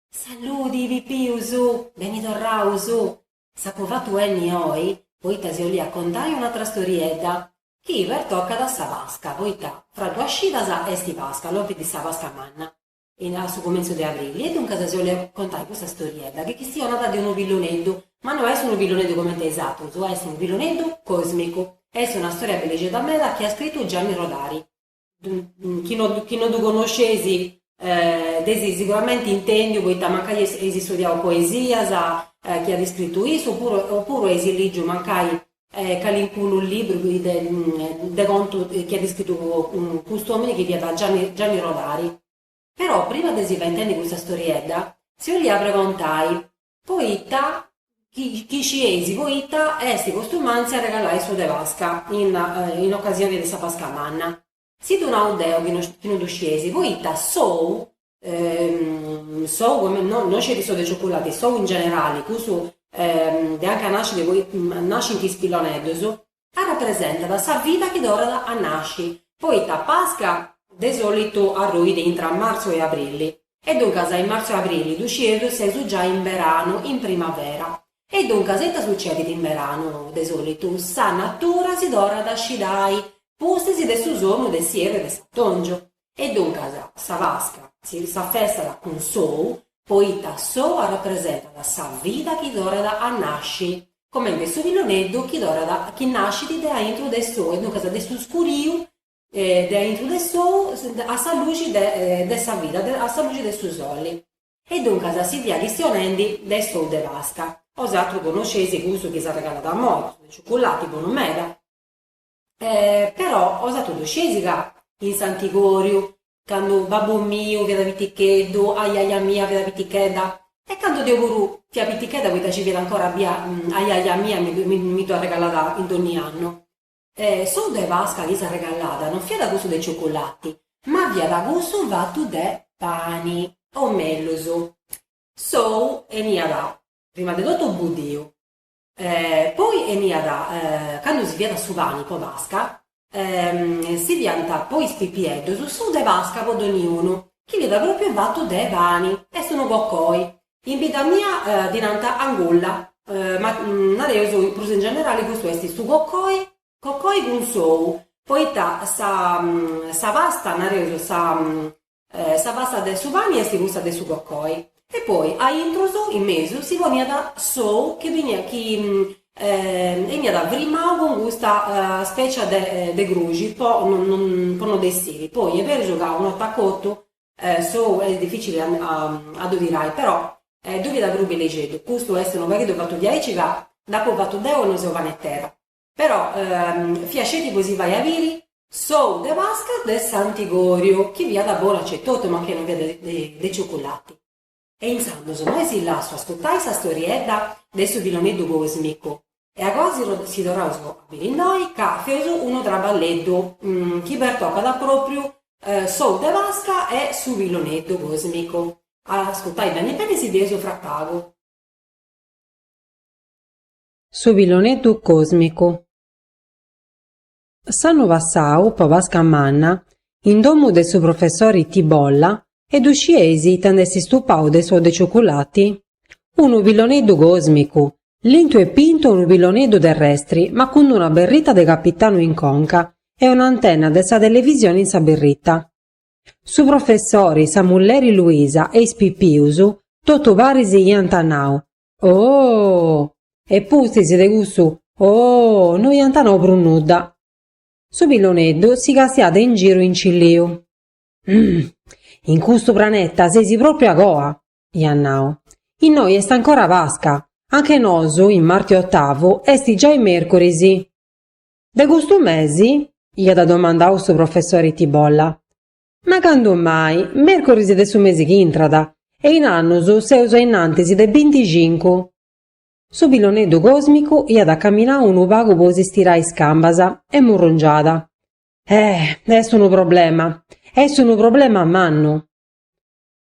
Salludi Pipius! Beni torraus! S'apu fatu 'enni oi poita si 'olia contai un'atra storiedda, chi pertocat a sa Pasca, poita fra duas cidas est Pasca, lompit sa Pasca manna, a su cumintzu de abrili, e duncas si 'olia contai custa storiedda, chi chistionat de unu pilloneddu, ma no est unu pilloneddu comente is atrus, est unu pilloneddu cosmicu. Est una storia bellixedda meda chi at scritu Gianni Rodari. chi no, chi no ddu connosceis dd'eis siguramenti intèndiu poita mancai eis studiau poesias chi at iscritu issu opuru opuru eis lìgiu mancai calincunu libru chi de de contu chi at iscritu cust'omini chi fiat Gianni Gianni Rodari. Però prima de si fai intendi custa storiedda si 'olia pregontai Poita chi scieis poita est costumàntzia arregalai s'ou de Pasca in ocasioni de sa Pasca Manna. Si ddu nau deu chi no ddu scieis, poita s'ou, s'ou no sceti s'ou de cioculati, s'ou in generali, cussu de anca nascit, nascint is pilloneddus, Arrapresentat sa vida chi torrat a nasci, poita Pasca de sòlitu arruit intra martzu e abrilli, e duncas in martzu e abrilli ddu scieus seus giai in beranu, in primavera. E duncas ita sucedit in beranu? De sòlitu sa natura si torrat a scidai pustis de su sonu de s'ierru e de s'atòngiu. E duncas sa Pasca s'affestat cun s'ou poita s'ou arrepresentat sa vida chi torrat a nasci, comente su pilloneddu chi torrat chi nascit de aintru de s'ou e duncas de su scuriu de aintru de s'ou a sa luxi de de sa vida, a sa luxi de su soli. E duncas si fia chistionendi de s'ou de Pasca. 'Osatrus connosceis cussu chi s'arregalat immoi, de ciuculati bonu meda. E però 'osatrus ddu scieis ca in s'antigòriu, candu babbu miu fiat piticheddu, ajaja mia fiat pitichedda, e candu deu puru fia pitichedda poita nci fiat ancora bia ajaja mia mi ddu mi ddu arregalàt dònnia annu, s'ou de Pasca chi s'arregalàt non fiat cussu de ciuculati, ma fiat cussu fatu de pani, o mellus, s'ou 'eniat prima de totu budiu. E poi 'eniat, candu si fiat su pani po Pasca, si fiant po is pipieddus s'ou de Pasca po doniunu, chi fiat pròpiu fatu de pani, est unu cocoi. In bidda mia ddi nant angulla, ma nareus prus in generali custu est su cocoi, cocoi cun s'ou, poita sa sa pasta, nareus sa Sa pasta de su pani est cussa de su cocoi e poi a intrus, in mesu, si poniat s'ou chi 'eniat chi 'eniat frimau cun custa spècia de de gruxi po po no dd'essiri, poi est berus ca una 'orta cotu s'ou est dificili a a ddu tirai, però ddu fiat prus bellixeddu, custu est unu pagheddu fatu diaici ca dd'apu fatu deu e non seu panetera. Però fiat sceti po si fai a biri. S'ou de Pasca de Santi Goriu, chi fiat bonu etotu, mancai non fiat de ciuculati. E intzandus immoi si lassu ascutai sa storiedda de su Pilloneddu Còsmicu. E agoa si torraus a biri innoi, ca feus unu traballeddu chi pertocat propriu s'ou de Pasca e su Pilloneddu Còsmicu. Ascutai beni beni si fia sufracau. Su pilloneddu còsmicu. S'annu passau, po Pasca Manna, in domu de su professori Tibolla, e ddu scieis ita nd'est stupau de s'ou de ciuculati? Unu pilloneddu còsmicu! Lintu e pintu unu pilloneddu terrestri ma cun d'una berrita de capitanu in conca e un'antenna de sa televisioni in sa berrita. Su professori, sa mulleri Luisa e is pipius, totu paris iant nau, Ooh! E pustis de cussu ooh no iant nou prus nudda. Su pilloneddu si castiat in giru incilliu. Umm! In custu praneta seis pròpriu a coa! iat nau. Innoi est ancora Pasca, anca nosu, in Marti Otavu, est giai Mèrcuris. De custu mesi? iat domandau su professori Tibolla. Ma candu mai, mèrcoris de su mesi chi intrat, e in annus seus a innantis de binticincu. Su pilloneddu còsmicu iat caminau unu pagu po si stirai is cambas, e murrungiat. Eh! Est unu problema. Est unu problema mannu.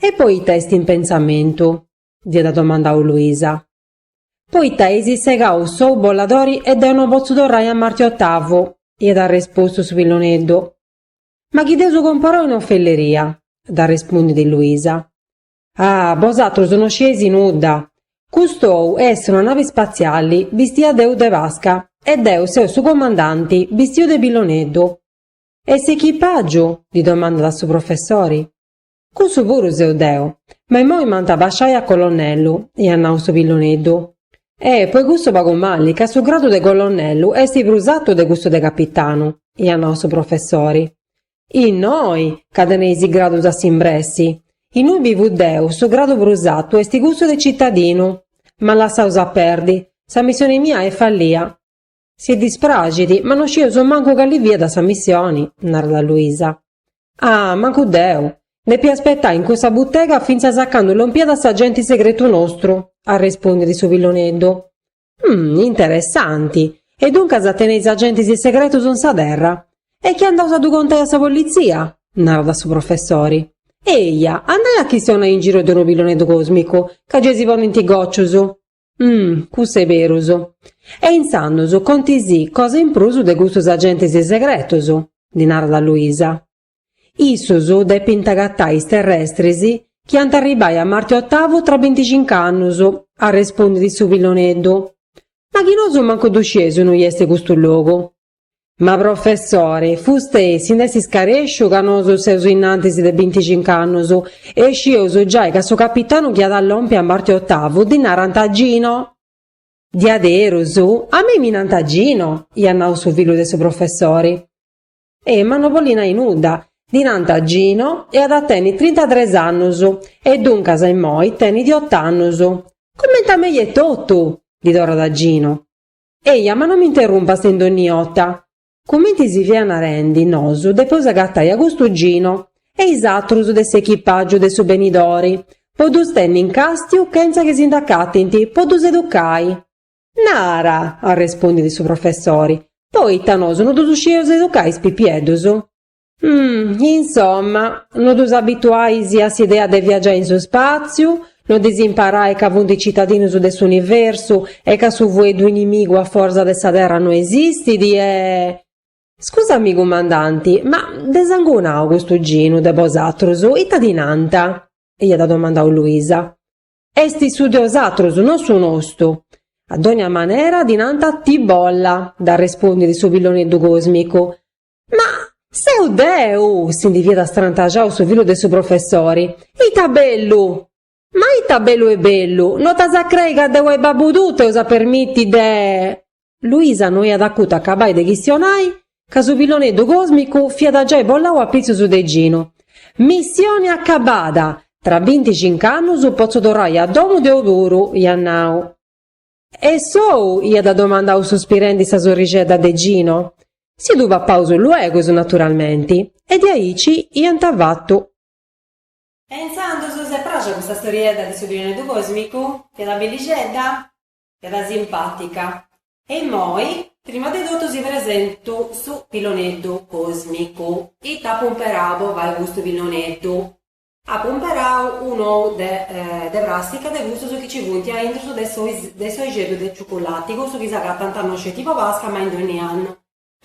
E poita est in pensamentu? dd'iat domandau Luisa. Poita eis segau s'ou bolladori e deu no potzu torrai a Marti Ottavu, iat arrespostu su pilloneddu. Ma chi dd'eus comporau in ofelleria? ddi arrespundit Luisa. Ah, bosatrus no scieis nudda! Cust'ou est una navi spatziali bistia de ou de Pasca e deu seu su comandanti bistiu de pilloneddu. E s'echipàgiu? ddi domandat su professori. Cussu puru seu deu. Ma immoi m'ant a basciai a colonnellu, iat nau su pilloneddu. E, po cussu pagu mali, ca su gradu de colonnellu est prus atu de cussu de capitanu, iat nau su professori. Innoi, ca teneis is gradus a s'imbressi. Innoi bivu deu, su gradu prus atu est cussu de citadinu. Ma lassaus a perdi. Sa missioni mia est fallia. Si dispraxit, ma no scieus mancu cali fiat sa missioni, narat Luisa. Ah, mancu deu! Depia aspetai in cussa butega fintzas a candu lompiat s'agenti segretu nostru, arrespondit su pilloneddu. Hum, interessanti! E duncas teneis agentis segretus in sa terra? E chi andaus a ddu contai a sa politzia? narat su professori. Eia, andai a chistionai in giru de unu pilloneddu còsmicu, ca gei si ponint gòcius. Umm, cussu est berus. E intzandus conti si cosa in prus de custus agentis segretus, ddi narat Luisa. Issus depint agatai is terrestris chi ant a arribbai a Marte Otavu tra binticinc'annus, arrespondit su pilloneddu. Ma chi nosu mancu ddu scieus innui est custu logu. Ma professori, fustei, si nd'est iscarèsciu ca nosu seus innantis de binticinc'annus, e scieus giai ca su capitanu chi at a lompi a Marte Otavu, ddi narant Gino! Diaderus? A mei mi nant Gino! iat nau su fillu de su professori. E ma no bolit nai nudda, ddi nant Gino e at a tenni trintatres annus, e duncas immoi tenit ot'annus. Comenti a mei etotu! ddi torrat Gino. Eja, ma non m'interrumpast in dogni 'ota. Comenti si fia narendi, nosu depeus agatai a custu Gino e is atrus de s'echipàgiu de su benidori, po ddus tenni in càstiu chentza chi si nd'acatint, po ddus educai. Nara! arrespundit su professori, poita nosu no ddus scieus educai is pipieddus? Mh, insomma, no ddus abituais a s'idea de viagiai in su spàtziu, no ddis imparais ca funt citadinus de s'universu e ca su fueddu inimigu a foras de sa terra no esistit e. Scusami cumandanti, ma de sangunau custu Ginu de bosatrus, ita ddi nant? iat domandau Luisa. Est su de osatrus, no su nostu. A dònnia manera ddi nant Tibolla, dd'arrespondit su pilloneddu còsmicu. Ma seu deu! si ndi fiat strantaxau su fillu de su professori. Ita bellu! Ma ita bellu e bellu! No t'as a crei ca deu e babu tuu t'eus a permiti de. Luisa no iat acutu acabai de chistionai ca su pilloneddu còsmicu fiat giai bolau a pitzus de Ginu. Missioni acabada! Tra binticinc'annus potzu torrai a domu deu puru, iat nau. E s'ou? iat domandau suspirendi sa sorrixedda de Gino. Si ddu papaus luegus, naturalmenti, e de aici iant fatu. E intzandus si est pràxia custa storiedda de su Pilloneddu Còsmicu, fiat bellixedda, fiat simpàtica. E immoi, prima de totu si presentu su Pilloneddu Còsmicu. Ita apu imperau po fai custu pilloneddu? Apo cumperau un'ou de de pràstica de cussus chi nci funt a intrus de de s'oixeddu de ciuculati, cussu chi s'agatant no sceti po Pasca ma in dònnia annu.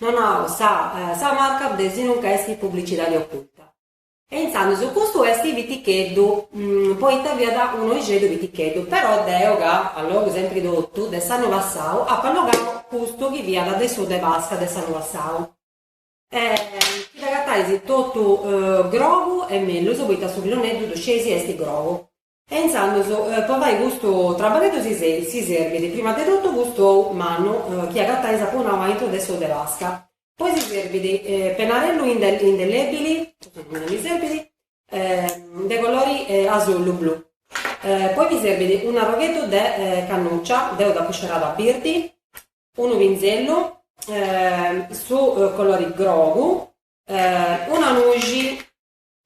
No nau sa sa marca desinunca est publicidadi oculta. E intzandus custu est piticheddu, poita fiat un'oixeddu piticheddu, però deu ca allogu sempri totu de s'annu passau apu allogau custu chi fiat de su de Pasca de s'annu passau. E chi dd'agatais totu grogu est mellus, poita su pilloneddu ddu scieis est grogu. E intzandus po fai custu traballeddu si serbit prima de totu custu ou mannu chi agatais apu nau aintru de s'ou de Pasca. Poi si serbit penarellu indelebili, custu non mi serbit, de colori asullu blu. Poi mi serbit un'arrogheddu de cannuccia, deu dd'apu scerada birdi, unu pinzellu, su colori grogu, una nuxi,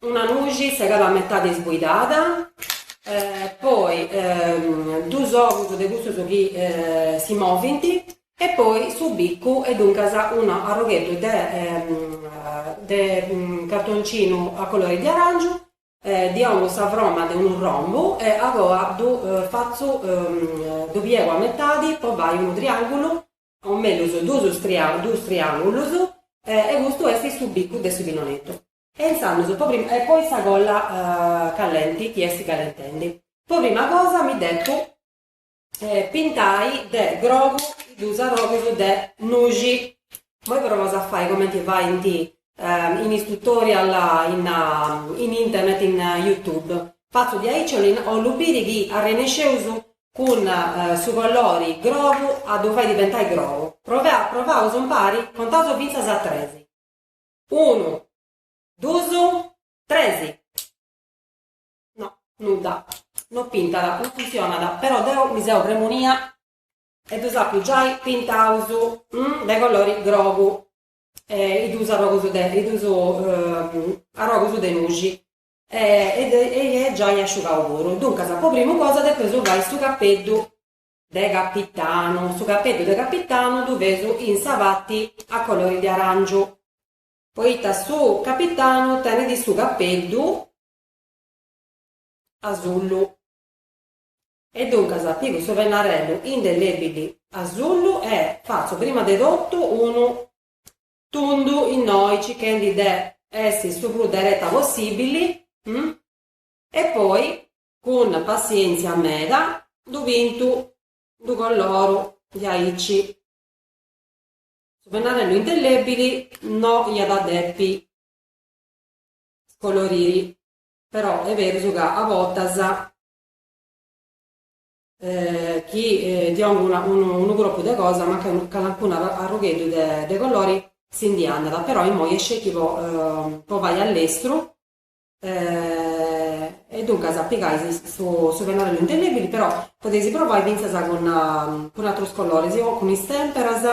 una nuxi segada a metadi isbuidada, poi duus ogus de cussus chi si movint e poi su bicu e duncas un'arrugheddu de cartoncinu a colori di aràngiu Ddi dongu sa froma de unu rombu e agoa ddu fatzu, ddu piegu a metadi po fai unu triàngulu, o mellus duus triàngulus, e custu est su bicu de su pilloneddu. E intzandus po prima, e poi sa colla callenti chi est callentendi. Po prima cosa mi depu. pintai de grogu is duus arrogus de nuxi moi provaus a fai comenti faint in is tutorial in internet in youtube fatzu diaici ollu biri chi arrennesceus cun su colori grogu a ddu fai diventai grogu provaus impari contaus fintzas a tres unu dus tres No, nudda. No pintat, no funtzionat, però deo mi seu premunia e ddus apu giai pintaus de colori grogu e is duus arrogus de is duus arrogus de nuxi e e est giai asciugau puru. Duncas, po primu cosa depeus fai su capeddu de capitanu, su capeddu de capitanu ddu feus in sa parti a colori de arangiu, poita su capitanu tenit su capeddu asullu. E duncas pigu su pennarellu indelebili asullu e fatzu prima de totu unu tundu innoi circhendi de essi su prus dereta possibili e poi cun passièntzia meda ddu pintu ddu coloru diaici su pennarellu indelebili no iat a depi scoloriri però est berus ca a bortas chi ddi 'onas unu corpu de cosa mancai calancunu arrugheddu de colori si ndi andat, però immoi est sceti po po fai a lestru e duncas pigais su pennarellu indelèbili però podeis provai fintzas cun atrus coloris, o cun is temperas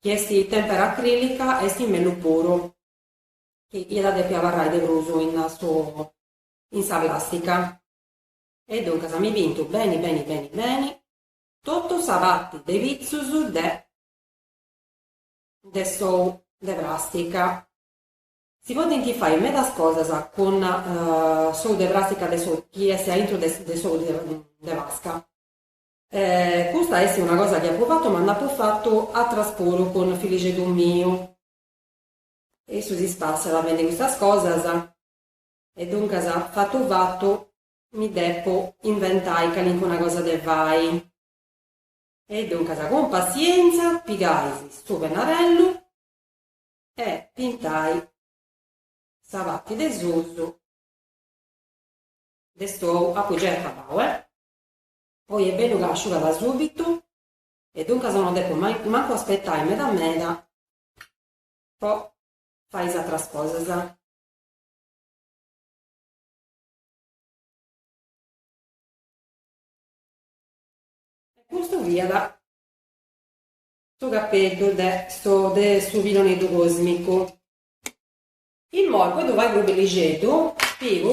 chi est tempera acrilica est mellus puru chi iat a depi abarrai de prus in su in sa plàstica. E duncas mi pintu beni beni beni beni totu sa parti de pitzus de de s'ou de pràstica. Si podint fai medas cosas cun s'ou de pràstica de s'ou chi est a intro de s'ou de Pasca. Custa est una cosa chi apu fatu ma nd'apu fatu atras puru cun filixeddu miu. Issu si spassat fendi custas cosas e duncas fatu fatu mi depu inventai calincuna cosa de fai. E duncas cun passienza pigais su pennarellu e pintais sa parti de susu de s'ou, apu giai acabau eh. Poi est bellu ca asciugat subitu e duncas no depu mancu aspetai meda meda Po fai is atras cosas. E custu fiat su capeddu de de su pilloneddu cosmicu. Immoi po ddu fai prus bellixeddu pigu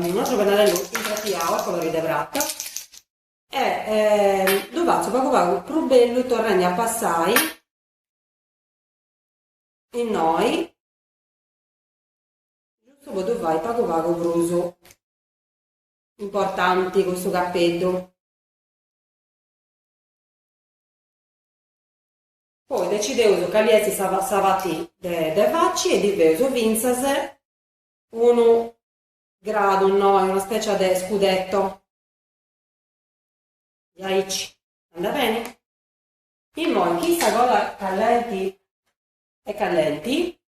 un'atru pennarellu insatiau a colori de prata e ddu fatzu pagu pagu prus bellu torrendi a passai Innoi. Giustu po ddu fai pagu pagu prus importanti custu capeddu. Poi decideus cali est sa sa pati de de faci e ddi feus fintzas unu gradu innoi, una specia de scudetto. Diaici. Andabeni. Immoi chi sa cola callenti est callenti,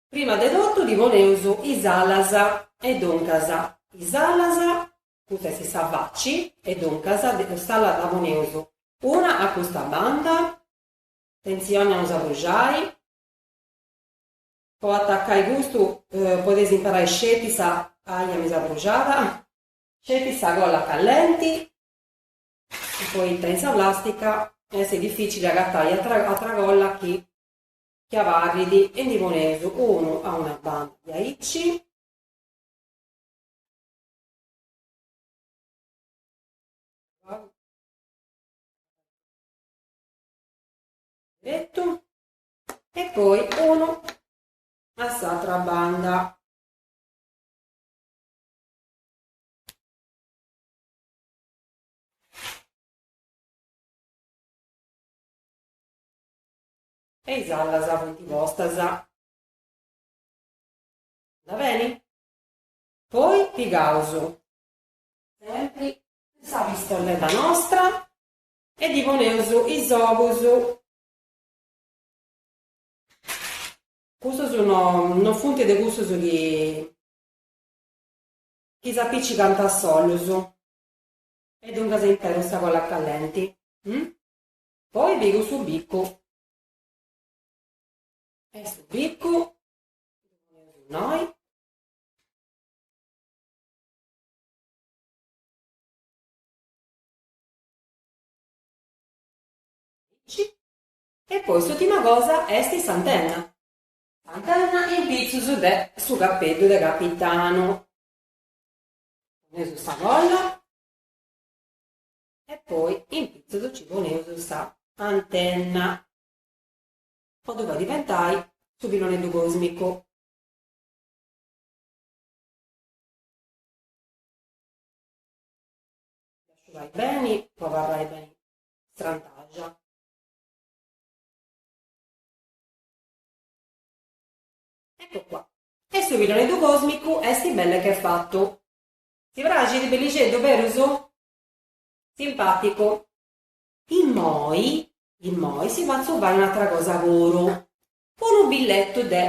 prima de totu ddi poneus is alas e duncas is alas, custa est sa faci, e duncas s'ala dda poneus una a custa banda, atentzioni a no s'abruxai, po atacai custu podeis imperai sceti sa, aia mi seu abruxada, sceti sa cola callenti, Poita in sa plàstica est difìcili agatai atra colla chi abarrit e ndi poneus unu a una banda diaici. Deretu. E poi unu a s'atra banda. E is allas funt postas. Andat beni? Poi pigaus sempri sa pistolleta nostra e ddi poneus is ogus. Custus no funt de cussus chi chi s'apicicant a solus e duncas imperu sa colla callenti. Hm? Poi pigu su biccu. E su biccu innoi. E poi s'ultima cosa est s'antenna. Antenna in pitzus de su capeddu de capitanu. Poneus sa colla e poi in pitzus ci poneus sa antenna po ddu fai diventai su piloneddu cosmicu. Asciugai beni po abarrai beni strantaxa. Ecco qua. E su piloneddu còsmicu est belle che fattu. Si praxit bellixeddu, berus? Simpàticu. Immoi, immoi si fatzu fai un'atra cosa puru. Unu billettu de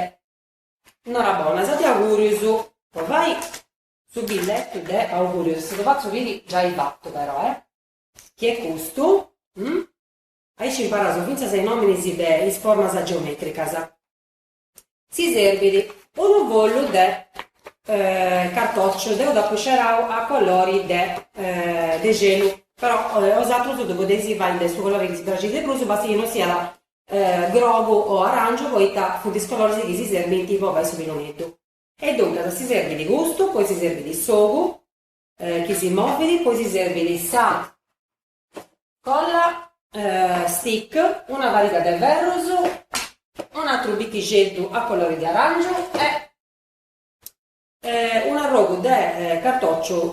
norabonas, de augùrius. Po fai su billettu de augùrius, si ddu fatzu biri giai fattu però, eh! Chi est custu. Aici imparaus fintzas is nominis de is formas geometricas. Si serbit unu follu de cartociu, deu dd'apu scerau a colori de celu, però osatrus ddu podeis fai de su colori chi si praxit de prus, basta chi non siat grogu o arangiu poita funt is coloris chi si serbint po fai su piloneddu. E duncas si serbit custu, poi si serbit s'ogu chi si movit, poi si serbit sa colla stick una pariga de ferrus un atru biculeddu a colori de arangiu e un arrogu de cartociu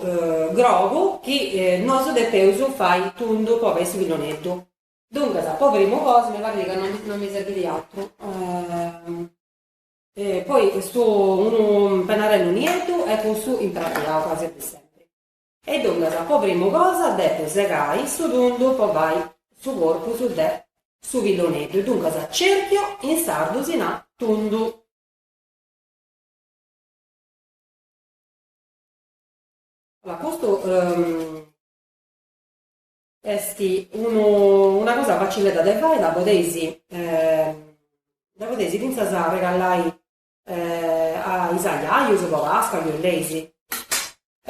grogu chi nosu depeus fai tundu po fai su pilloneddu duncas po primu cosa mi parrit ca non mi serbidi atru poi unu pennarellu nieddu e cussu imprateau quasi a dì sempri E duncas po primu cosa depu segai su tundu po fai su corpus de su pilloneddu, duncas cerchio, in sardu si nat tundu. Custu est una cosa facilledda de fai, dda podeis dda podeis fintzas arregallai A is ajajus po Pasca chi boleis.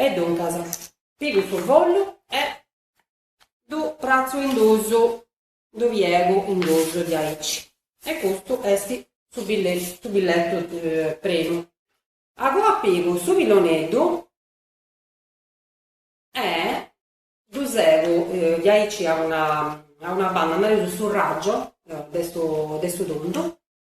E duncas, pigu su follu e ddu partzu in dus, ddu piegu in dus diaici. E custu est su su billetu primu. Acoa pigu su piloneddu e ddu segu, diaici a una a una banda, nareus su raggio de su de su tundu,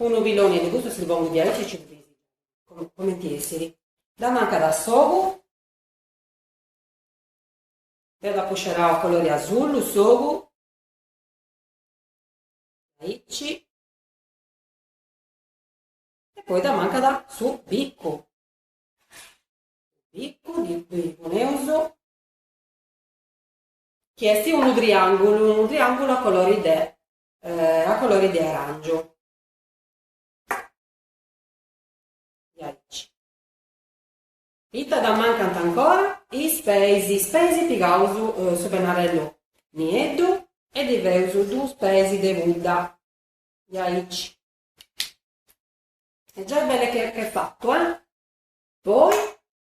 Unu pilloni de custos si pongu diaici e ci lu disigiat. comenti essiri? Dda mancat s'ogu? Deu dd'apu scerau a colori asullu s'ogu. Diaici. E poi dda mancat su bicu. Bicu ddi poneus. Chi esti unu triangulu, unu triangulu a colori de a colore de aràngiu aici ita dd'ammancant ancora is peis is peis pigaus su pennarellu nieddu e ddi feus duus peis de pudda diaici est giai belle che fatu eh poi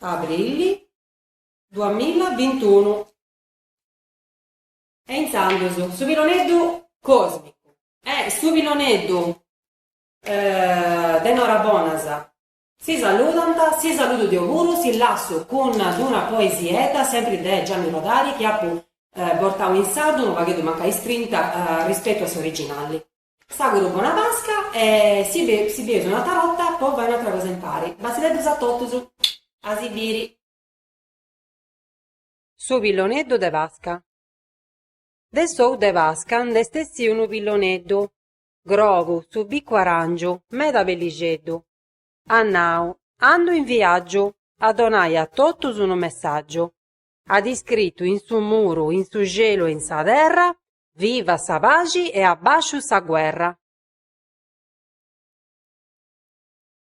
Abrìlli duamila bintunu. E intzandus su piloneddu còsmicu. E su piloneddu de Norabonas. Si saludant, si saludu deo puru, si lassu cun d-una poesiedda sempri de Gianni Rodari chi apu bortau in sardu unu pagheddu mancai istrinta rispetu a s'originalli. S'auguru bona Pasca e si si bieus un'atra borta po fai un'atra cosa impari. Basideddus a totus. A si biri. Su pilloneddu de Pasca De s'ou de Pasca nd'est essiu unu pilloneddu, grogu, su bicu aràngiu, meda bellixeddu. At nau, Andu in viàgiu a donai a totus unu messàgiu. At iscritu in su muru, in su celu e in sa terra, Viva sa paxi e abbasciu sa guerra.